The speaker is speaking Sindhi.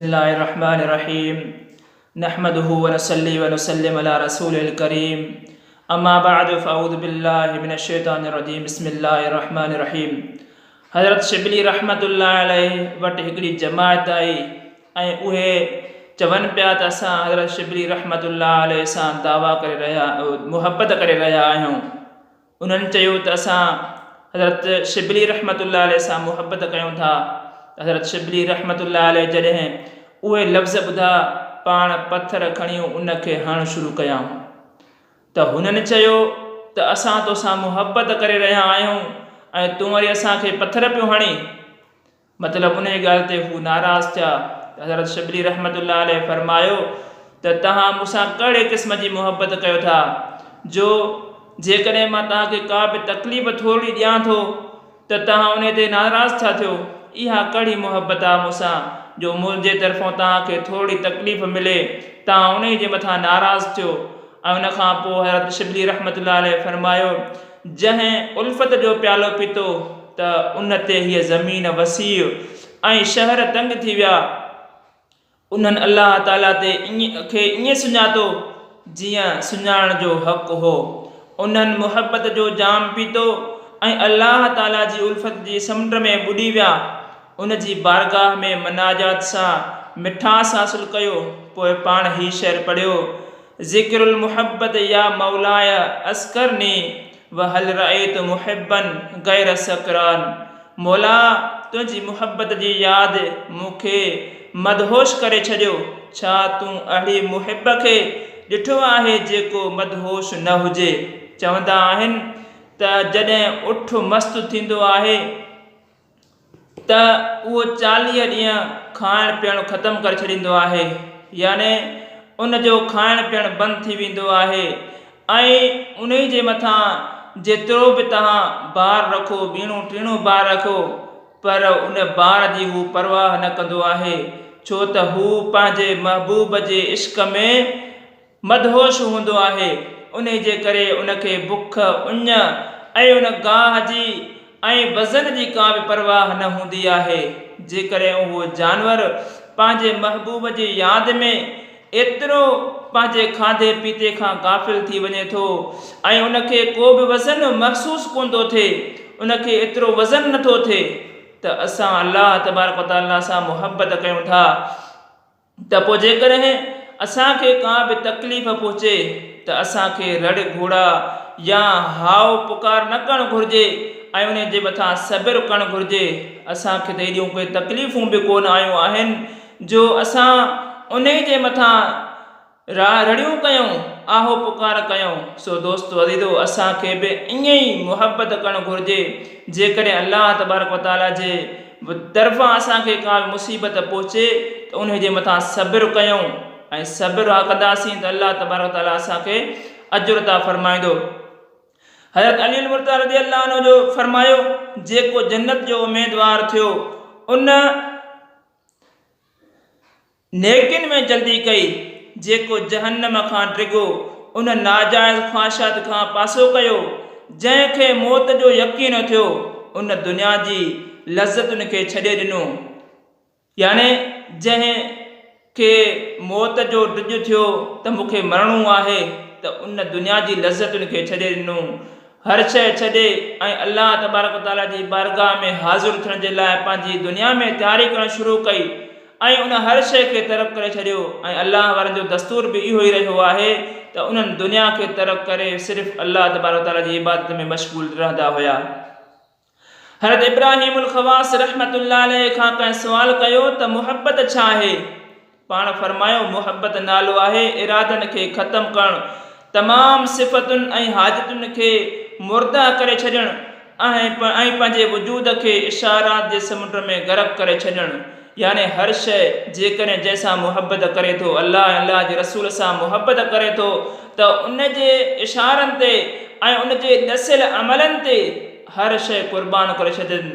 بسم الله الرحمٰن الرحيم نحمده ونصلي ونسلم علي رسوله الڪريم اما بعد فاعوذ بالله من الشيطان الرجيم بسم الله الرحمٰن الرحيم حضرت شبلي رحمت الله عليه وٽ هڪڙي جماعت آئي ۽ اهي چون پيا ته اسان حضرت شبلي رحمت الله عليه سان دعويٰ ڪري رهيا محبت ڪري رهيا آهيون انهن چيو ته اسان حضرت شبلي رحمة الله عليه سان محبت ڪيون ٿا ته حضرت شبلي رحمة الله عليه جڏهن اهي لفظ ٻڌا پاڻ پٿر کڻي ان کي هڻڻ شروع ڪيائون ته هنن چيو ته اسان توسان محبت ڪري رهيا آهيون ۽ تون وري اسان کي پٿر پيو هڻين مطلب انهيء ڳالهه تي هو ناراض ٿيا ته حضرت شبلي رحمة الله عليه فرمايو ته توهان مون سان ڪهڙي قسم جي محبت ڪيو ٿا جو جيڪڏهن مان توهان کي ڪا به تڪليف ٿورڙي ڏيان ٿو ته توهان انهيء تي ناراض ٿا ٿيو، اها ڪهڙي محبت آ مون سان جو منهنجي طرفون توهان کي ٿورڙي تڪليف ملي توهان انهيء جي مٿان ناراض ٿيو ۽ ان کان پوء حضرت شبلي رحمة الله عليه فرمايو جنهن الفت جو پيالو پيتو ته ان تي هيء زمين وسيع ۽ شهر تنگ ٿي ويا. انهن الله تعاليٰ تي کي ائين سڃاتو جيئن سڃاڻڻ جو حق هو. انهن محبت جو جام پيتو ۽ الله تعاليٰ جي الفت جي سمنڊ ۾ ٻڏي ويا. ان جي بارگاهه ۾ مناجات سان مٺاس حاصل ڪيو. پوء پاڻ هي شعر پڙهيو. ذکر المحبت يا مولاي اذکرني وهل رأيت محبا غير سڪران مولا تنهنجي محبت جي ياد مون کي مدهوش ڪري ڇڏيو، ڇا تون اهڙي محب کي ڏٺو آهي جيڪو مدهوش نه هجي؟ چوندا آهن ته جڏهن اٺ مست ٿيندو آهي. ته اهو چاليهه ڏينهن کائڻ پيئڻ ختم ڪري ڇڏيندو آهي يعني ان جو کائڻ پيئڻ بند ٿي ويندو آهي ۽ انهي جي مٿان جيترو به توهان بار رکو ويڻو ٽيڻو بار رکو پر ان بار جي هو پرواهه نه ڪندو آهي ڇو ته هو پنهنجي محبوب جي عشق ۾ مدهوش هوندو آهي، انهي جي ڪري ان کي بک، اڃ ۽ ان گاهه جي ۽ وزن جي ڪا به پرواهه نه هوندي آهي. جيڪڏهن اهو جانور پنهنجي محبوب جي ياد ۾ ايترو پنهنجي کاڌي پيتي کان غافل ٿي وڃي ٿو ۽ ان کي ڪو به وزن محسوس ڪون ٿو ٿئي، ان کي ايترو وزن نه ٿو ٿئي ته اسان الله تبارڪ وتعاليٰ سان محبت ڪيون ٿا. ته پوء جيڪڏهن اسان کي ڪا به تڪليف پهچي ته اسان کي رڙ گهوڙا يا هاء پڪار نه ڪرڻ گهرجي ۽ انهي جي مٿان صبر ڪرڻ گهرجي، اسان کي ته ايڏيون ڪي تڪليفون به ڪونه آيون آهن جو اسان انهي جي مٿان را رڙيون ڪيائون، آهو پڪار ڪيائون، سو دوستو عزيزو اسان کي به ائين ئي محبت ڪرڻ گهرجي، جيڪڏهن الله تبارڪ و تعالي جي طرفان اسان کي ڪا به مصيبت پهچي ته انهي جي مٿان صبر ڪيائون ۽ صبر ڪنداسين ته الله تبارڪ و تعالي اسان کي اجر عطا فرمائيندو. حضرت علي المرتضيٰ رضي الله عنه جو فرمايو، جيڪو جنت جو اميدوار ٿيو ان، نيڪين ۾ جلدي ڪئي، جيڪو جهنم کان ڊگهو، ان ناجائز خواهشات کان پاسو ڪيو، جنهن کي موت جو يقين ٿيو، ان دنيا جي لذتن کي ڇڏي ڏنو، يعني جنهن کي موت جو ڊڄ ٿيو ته مون کي مرڻو آهي ته ان دنيا جي لذتن کي ڇڏي ڏنو، هر شيء ڇڏي ۽ الله تبارڪ وتعاليٰ جي بارگاهه ۾ حاضر ٿيڻ جي لاء پنهنجي دنيا ۾ تياري ڪرڻ شروع ڪئي ۽ ۽ ان هر شيء کي ترڪ ڪري ڇڏيو ۽ الله وارن جو دستور به اهو ئي رهيو آهي ته انهن دنيا کي ترڪ ڪري صرف الله تبارڪ و تعاليٰ جي عبادت ۾ مشغول رهندا هيا. حضرت ابراهيم الخواص رحمة الله عليه کان ڪنهن سوال ڪيو ته محبت ڇا آهي؟ پاڻ فرمايو محبت نالو آهي ارادن کي ختم ڪرڻ تمام صفتن ۽ حاجتن کي مرده ڪري ڇڏڻ ۽ پنهنجي وجود کي اشارات جي سمنڊ ۾ غرق ڪري ڇڏڻ يعني هر شيء جيڪڏهن جنهن سان محبت ڪري ٿو الله ۽ الله جي رسول سان محبت ڪري ٿو ته ان جي اشارن تي ۽ ان جي ڏسيل عملن تي هر شيء قربان ڪري ڇڏجي